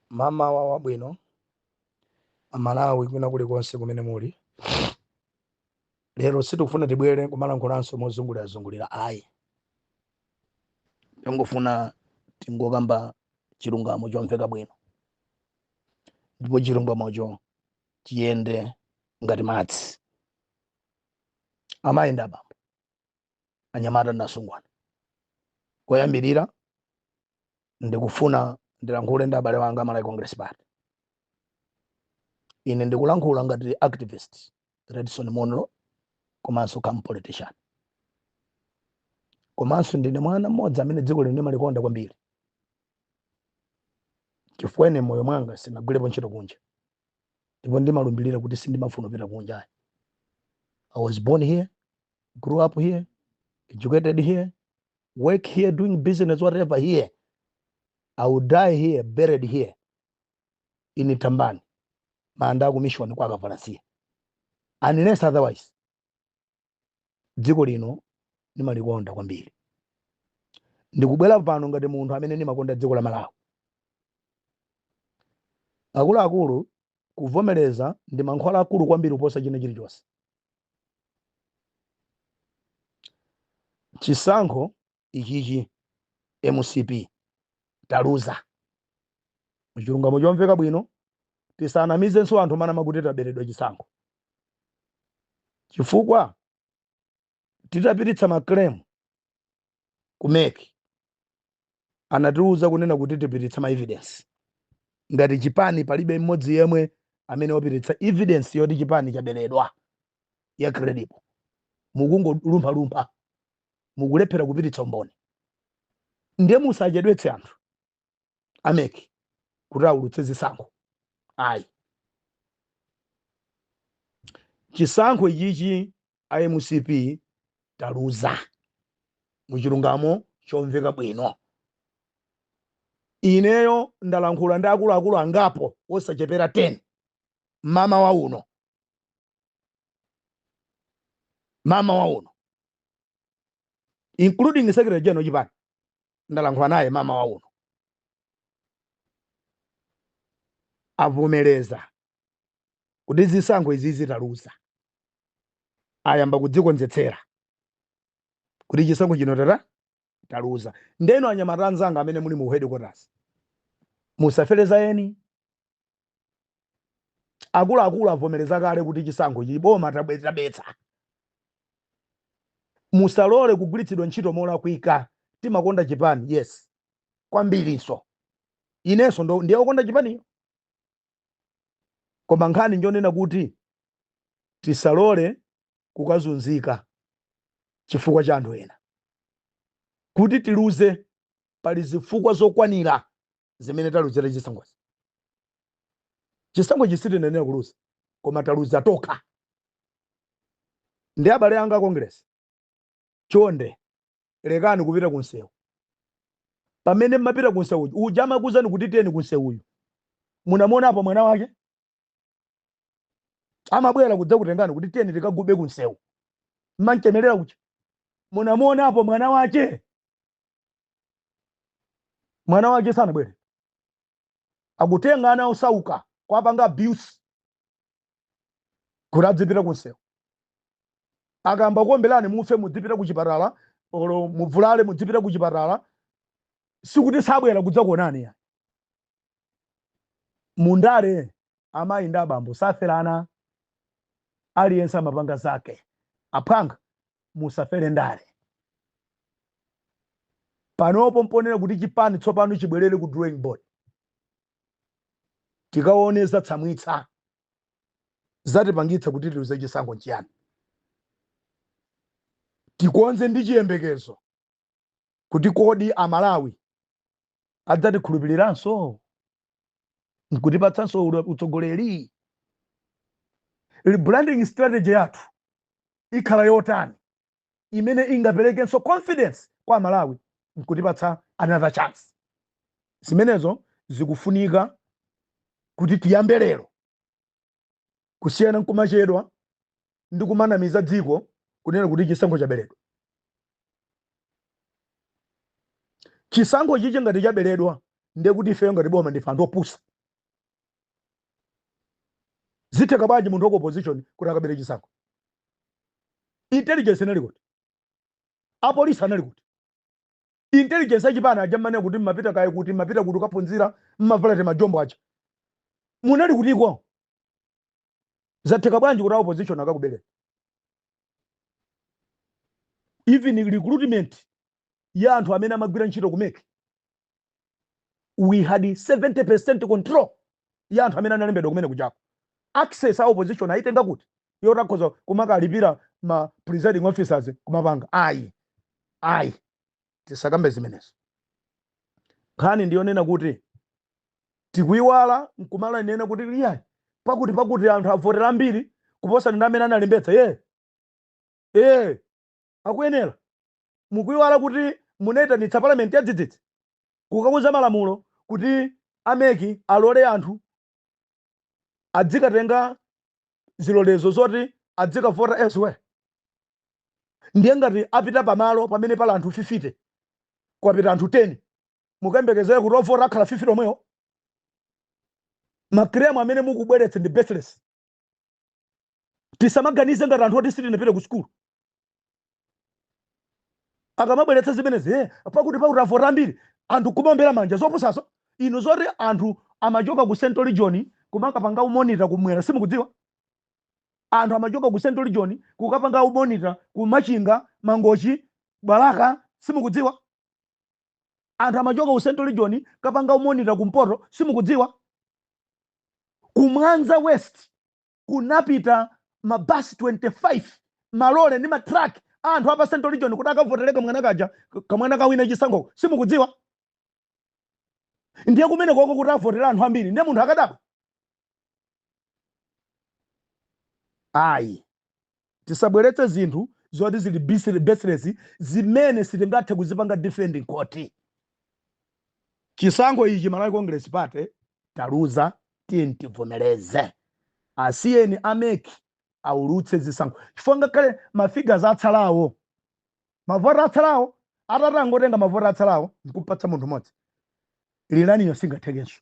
Mmawa wabwino amalawi kwina kulikonse kumene muli lero sitikufuna tibwere kumalankhulanso mozungulirazungulira ayi tingofuna tingokamba chilungamo chomveka bwino ndipo chilungamocho chiyende ngati madzi amayi ndi abambo anyamata ndi asungwana koyambirira ndikufuna ndilankhule ndi abale wanga a malawi congress party ine ndikulankhula ngati activist redson munlo komanso come politician komanso ndine mwana mmodzi amene dziko lino ndimalikonda kwambiri chifukwa ine mmoyo mwanga sinagwirepo ntchito kunja ndipo ndimalumbirira kuti sindimafuna kupita kunja i was born here grew up here educated here work here doing business whatever here i will die here buried here in tambani manda aku mission kwa akavalasiya unless otherwise dziko lino ndimalikonda kwambiri ndikubwera pano ngati munthu amene ndimakonda dziko la malawi akuluakulu kuvomereza ndi mankhwala akulu kwambiri kuposa china chilichonse chisankho ichichi mcp taluza muchilungamo chomveka bwino tisanamizenso anthu manama kuti taberedwa chisankho chifukwa titapititsa maclaim ku mec anatiuza kunena kuti tipititse ma evidence ngati chipani palibe mmodzi yemwe amene wapititsa evidence yoti chipani chaberedwa ya credible mukungolumphalumpha mukulephera kupititsa umboni ndiye musachedwetse anthu a mec kuti awulutse zisankho ayi chisankho ichichi a mcp taluza muchilungamo chomveka bwino ineyo ndalankhula ndi akuluakulu angapo osachepera 10 mmawa uno mmawa uno including secretary general chipani ndalankhula naye mmawa uno avomereza kuti zisankho izizi taluza ayamba kudzikonzetsera kuti chisankho chino tata taluza ndeno anyamata anzanga amene muli mu headquarters musafere za eni akuluakulu avomereza kale kuti chisankho chi boma tabetsa musalole kugwiritsidwa ntchito molakwika timakonda chipani yes kwambirinso inenso ndiye okonda chipaniyo koma nkhani njonena kuti tisalole kukazunzika chifukwa cha anthu ena. Kuti tiluze, pali zifukwa zokwanira zimene taluzira chisankhochi. Chisankhochi sitinayenera kuluza, koma taluza tokha. Ndi abale anga a Congress, chonde lekani kupita ku msewu. Pamene mmapita ku msewu uja amakuuzani kuti tiyeni ku msewuku, munamuonapo mwana wake? amabwera kudzakutengani kuti tiyeni tikagube kunsewu mmanchemerera kuja munamuonapo mwana wache mwana wache sanabwere akutengani ana osauka kuwapanga abuse kuti adzipita kunsewu akamakuombelani mufe mudzipita kuchipatala olo muvulale mudzipita kuchipatala sikuti sabwera kudzakuonani ya mundale amayi ndi abambo saferana aliyense amapanga zake aphwanga musafere ndale panopo mponena kuti chipani tsopano chibwerere ku drawing board tikaone zatsamwitsa zatipangitsa kuti tiluze chisankho nchiyani tikonze ndi chiyembekezo kuti kodi amalawi adzatikhulupiriranso nkutipatsanso ule- utsogoleri rebranding strategy yathu ikhala yotani imene ingaperekenso confidence kwa amalawi nkutipatsa another chance zimenezo zikufunika kuti tiyambe lero kusiyana nkumachedwa ndi kumanamiza dziko kunena kuti chisankho chaberedwa chisankho ichi ngati chaberedwa ndiye kuti ifeyo ngati boma ndife anthu opusa zitheka bwanji munthu wa ku opposition kuti akabere chisankho intelligence inali kuti apolisi anali kuti intelligence achipani aja mmanena kuti mmapita kaye kuti mmapita kuti kukaphunzira mmavala timajombo aja munali kutiko zatheka bwanji kuti a opposition akakubereni even recruitment ya anthu amene amagwira ntchito ku MEC we had 70% control ya anthu amene analembedwa kumene kujako access a opposition ayitenga kuti yoti akhoza kumakalipira ma presiding officers kumapanga ayi ayi tisakambe zimenezo nkhani ndiyonena kuti tikuyiwala nkumanena kuti iyayi pakuti pakuti anthu avotera ambiri kuposa ndi amene analembetsa ye ee akuyenela. Mukuiwala kuti munaitanitsa parliament yadzidzidzi kukauza malamulo kuti a mec alole anthu adzikatenga zilolezo zoti adzikavota elsewhere? Ndiye ngati apita pamalo pamene pali anthu 50 kwapita anthu 10 mukuyembekezera kuti ovota akhala 50 omwewo? Ma claims amene mukubweretsa ndi baseless. tisamaganize ngati anthu oti sitinapite ku sukulu akamabweretsa zimenezi pakuti pakuti avota ambiri anthu kumaombera manja zopusaso inu zoti anthu amachoka ku central region kumakapanga umonita kumwera simukudziwa anthu amachoka ku central region kukapanga umonita ku machinga mangochi balaka simukudziwa anthu amachoka ku central region kapanga umonita kumpoto simukudziwa kumwanza west kunapita mabasi 25 malole ndi matrak a anthu apa central region kuti akavotere kamwana kaja kamwana kawina chisankhoko simukudziwa ndiye kumene kuko kuti avotera anthu ambiri ndiye munthu akadaba ayi tisabweretse zinthu zoti zili baseless zimene sitingathe kuzipanga defend in court chisankho ichi malawi congress party taluza tiyeni tivomereze asiyeni a mec aulutse zisankho chifukwa ngakhale mafigas atsalawo mavoti atsalawo atangotenga mavoti atsalawo nkupatsa munthu mmodzi lilaniyo singathekenso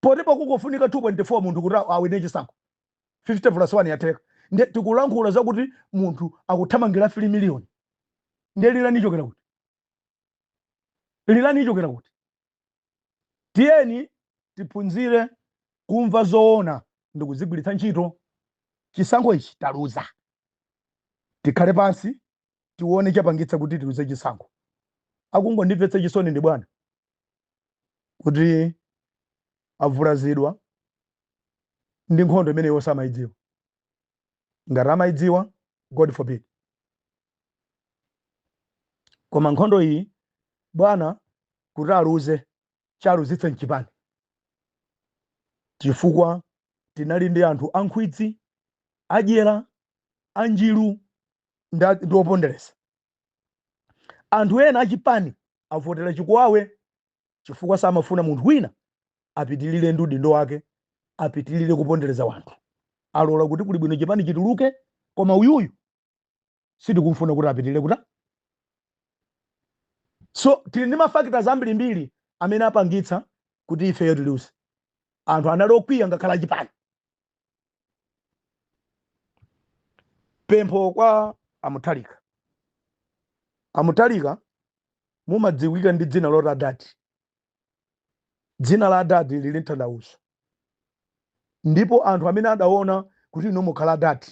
poti pakufunika 2.4 munthu kuti awine chisankho 50 plus 1 yatheka nde tikulankhula zakuti munthu akuthamangira 3 miliyoni nde lilani ichokera kuti lilani ichokera kuti tiyeni tiphunzire kumva zoona ndi kuzigwiritsa ntchito chisankho ichi taluza tikhale pansi tione chapangitsa kuti tiluze chisankho akungondimvetsa chisoni ndi bwana kuti avulazidwa ndi nkhondo imene iwo samayidziwa ngati amayidziwa god forbid koma nkhondo iyi bwana kuti aluze chaluzitse mchipani chifukwa tinali ndi anthu ankhwidzi adyera anjiru ndi opondereza anthu ena achipani avotera chikuwawe chifukwa samafuna munthu wina apitilire ndi udindo wake apitilire kupondereza wanthu alola kuti kuli bwino chipani chituluke koma uyuyu sitikumfuna kuti apitilire kuta so tili ndi mafactors ambirimbiri amene apangitsa kuti ifeyo tiluze anthu anali okwiya ngakhale achipani pempho kwa a mutharika a mutharika mumadziwika ndi dzina loti adadi dzina la adadi lili n'tanthauzo ndipo anthu amene adaona kuti inu mukhala adadi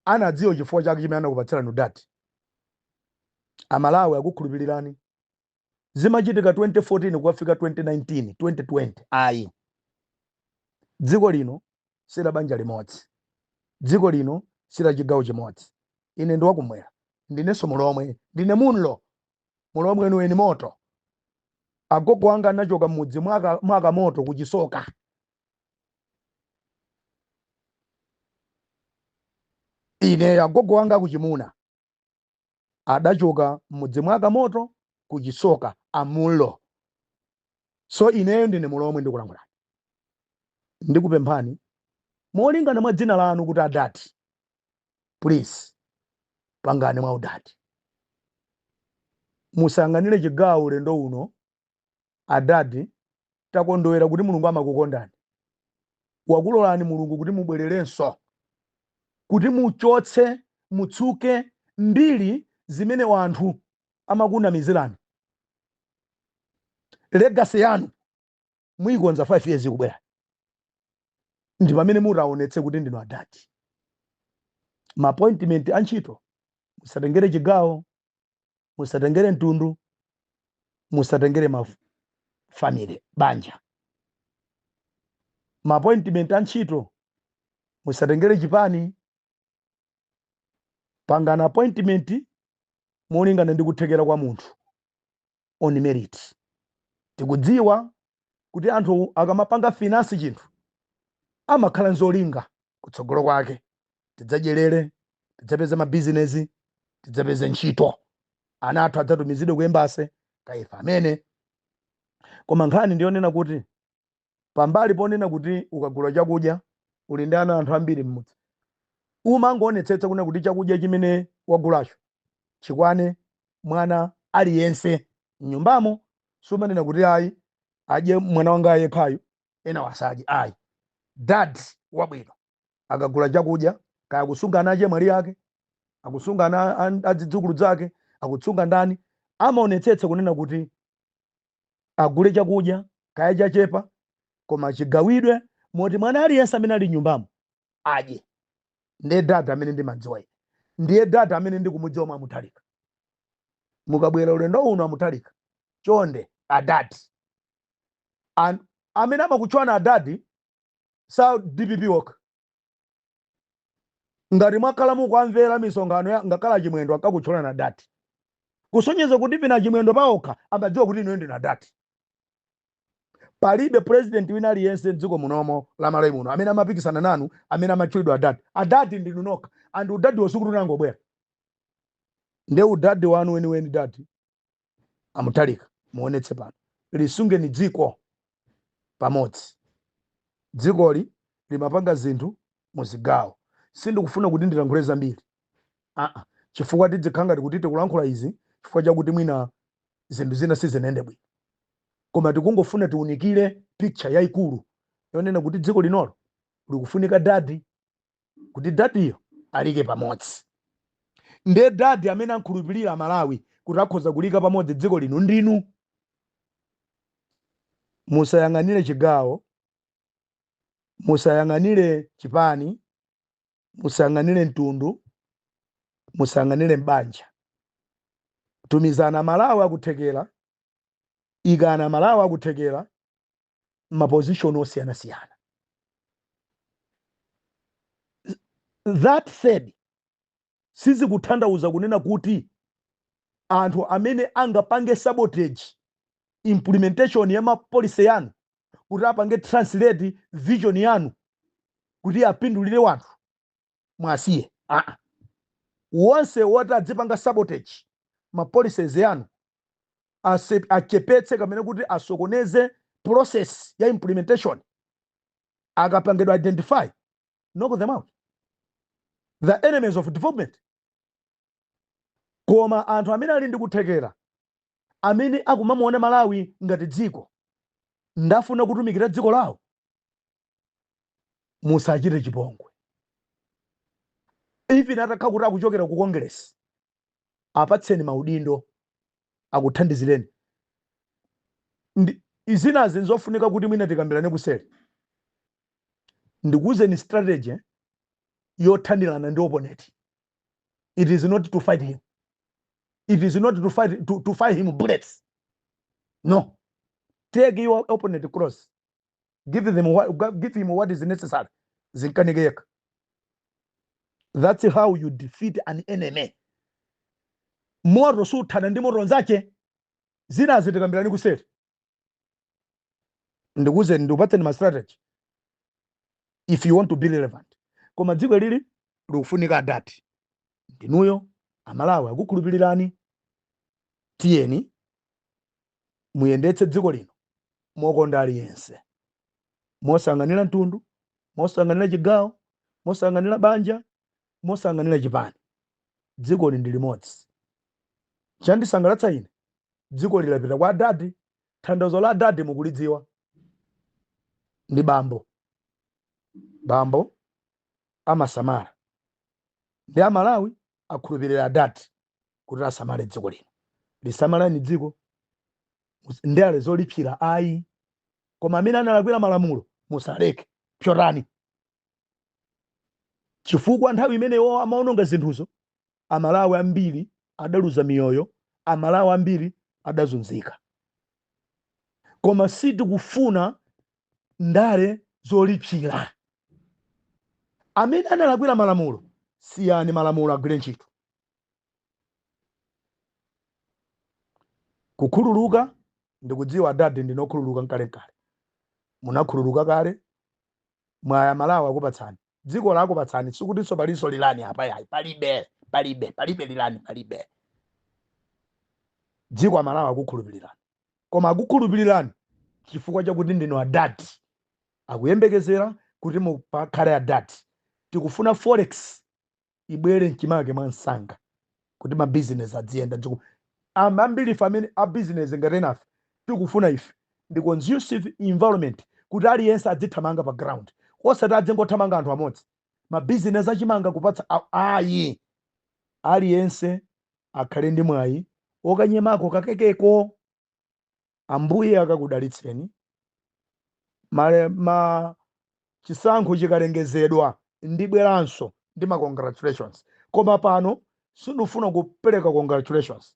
anadziwa chifukwa chake chimene anakupatsirani udadi amalawi akukhulupirirani zimachitika 2014 kukafika 2019 2020 ayi dziko lino si la banja limodzi dziko lino si la chigawo chimodzi ine ndiwakumwera ndinenso mulomwe ndine munlo mulomwe weniweni moti agogo anga anachoka m'mudzi mwa ka, mwa kamoto ku chisoka ine agogo anga akuchimuna adachoka m'mudzi mwa Kamoto ku Chisoka Amullo. So ineyo ndine Mulomwe ndikulankhulane. Ndikupemphani molingana mwa dzina lanu kuti adadi. Please pangani mwaudadi. Musayang'anire chigawo ulendo uno Adadi, takondwera kuti Mulungu amakukondani. Wakulolani Mulungu kuti mubwererenso, kuti muchotse, mutsuke mbiri zimene wanthu amakunamizirani. Legacy yanu muikonza 5 years ikubwerayi ndi pamene mutaonetse kuti ndinu adadi ma appointment a ntchito musatengere chigawo musatengere mtundu musatengere ma family banja ma appointment a ntchito musatengere chipani pangani appointment molingana ndi kuthekera kwa munthu on merit. Tikudziwa kuti anthu akamapanga finance chinthu amakhala nzolinga kutsogolo kwake. Tidzadyerere, tidzapeze ma business, tidzapeze ntchito. Ana athu adzatumizidwe ku embassy kaya ife amene. Koma nkhani ndiyonena kuti pambali ponena kuti ukagula chakudya uli ndi ana anthu ambiri m'mudzi, umangoonetsetsa kunena kuti chakudya chimene wagulacho chikwane mwana aliyense m'nyumbamo. Sumanena kuti ayi, adye mwana wanga yekhayu, enawo asadye ayi. Dad wabwino akagula chakudya, kaya akusunga ana achemwali ake, akusunga ana a- a- adzidzukulu dzake, akusunga ndani, amaonetsetsa kunena kuti agule chakudya kaya chachepa koma chigawidwe bwino moti mwana aliyense amene ali nyumbamo adye ndiye data amene ndimadziwa ine ndiye data amene ndikumudziwa mwa mutalika mukabwera ulendo uno amutalika chonde adadi amene amakutchwana adadi sa dpp woka ngati mwakhala mukuamvera misonkhano ya ngakhale achimwendo amakutchulani adadi kusonyeza kuti pena achimwendo paokha amadziwa kuti inuyo ndinu adadi palibe president wina aliyense mdziko munomo la malawi muno amene amapikisana nanu amene amatchulidwa adadi adadi ndinu nokha and udadi wosikuti unangobwera nde udadi wanu weniweni dadi amutharika muonetse pano lisungeni dziko pamodzi dzikoli limapanga zinthu muzigawo sindikufuna kuti ndilankhule zambiri aa chifukwa tidzikhala ngati kuti tikulankhula izi chifukwa chakuti mwina zinthu zina sizinayende bwino koma tikungofuna tiunikire picture yaikulu yonena kuti dziko linolo likufunika dadi kuti dadiyo aliike pamodzi nde dadi amene ankhulupirira amalawi kuti akhoza kuliika pamodzi dziko lino ndinu musayang'anire chigawo musayang'anire chipani musayang'anire mtundu musayang'anire mbanja tumizani amalawi akuthekera ikani amalawi akuthekera mapozishoni osiyanasiyana that said sizikutanthauza kunena kuti anthu amene angapange sabotage implementation ya mapolicy yanu kuti apange translate vision yanu kuti apindulire wanthu muwasiye aa wonse woti adzipanga sabotage ma policies yanu ase- achepetse kamene kuti asokoneze process ya implementation akapangidwa identify knock them out the enemies of development koma anthu amene ali ndi kuthekera amene akumamuona malawi ngati dziko nd'afuna kutumikira dziko lawo musachite chipongwe even atakhala kuti akuchokera ku congress apatseni maudindo akuthandizireni zinazi nzofunika kuti mwina tikambirane kuseri ndikuuzeni strategy yothanirana ndi opponent it is not to fight him it is not to fight to, to fight him bullets no take your opponent cross give them what, give him what is necessary zinkanike yekha that's how you defeat an enemy moto suthana ndi moto nzache zinazi tikambirane kuseri ndikuuzeni ndikupatseni ma strategy if you want to be relevant koma dziko lili likufunika adadi ndinuyo amalawi akukhulupirirani tiyeni muyendetse dziko lino mokonda aliyense mosayang'anira mtundu mosayang'anira chigawo mosayang'anira banja mosayang'anira chipani dzikoli ndi limodzi chandisangalatsa ine dzikoli lapita kwa adadi tanthauzo la adadi mukulidziwa ndi bambo bambo amasamala ndi amalawi akhulupirira adadi kuti asamale dziko lino lisamalani dziko Mus- ndale zolipsira ayi koma amene analakwira malamulo musaleke psotani chifukwa nthawi imene iwowa amaononga zinthuzo amalawi ambiri adaluza miyoyo amalawi ambiri adazunzika koma sitikufuna ndale zolipsira amene analakwira malamulo siyani malamulo agwire ntchito kukhululuka ndikudziwa adadi ndinu okhululuka nkale nkale munakhululuka kale mwayi amalawi akupatsani dziko lakupatsani sikutinso palinso rerun apa ayi palibe palibe palibe rerun palibe dziko amalawi akukhulupilirani koma akukhulupilirani chifukwa chakuti ndinu adadi akuyembekezera kuti mukakhale adadi tikufuna forex ibwere mchimake mwa msanga kuti mabizinesi adziyenda ndipo Am- ambiri ife amene a bizinesi ngati enafe tikufuna ife ndi conducive environment kuti aliyense adzithamanga pa ground osati adzingothamanga anthu amodzi mabizinesi achimanga kupatsa a- ayi aliyense akhale ndi mwayi okanyemako kakekeko ambuye akakudalitseni Male- ma chisankho chikalengezedwa ndibweranso ndi ma congratulations koma pano sindifuna kupereka congratulations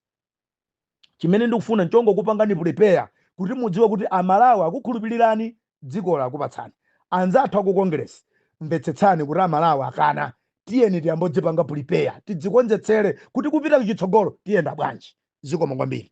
chimene ndikufuna nchongokupangani prepare kuti mudziwe kuti amalawi akukhulupirirani dziko lakupatsani anzathu aku Congress mvetsetsani kuti a Malawi akana tiyeni tiyambodzipanga prepare tidzikonzekeretse kuti kupita kuchitsogolo tiyenda bwanji zikomo kwambiri.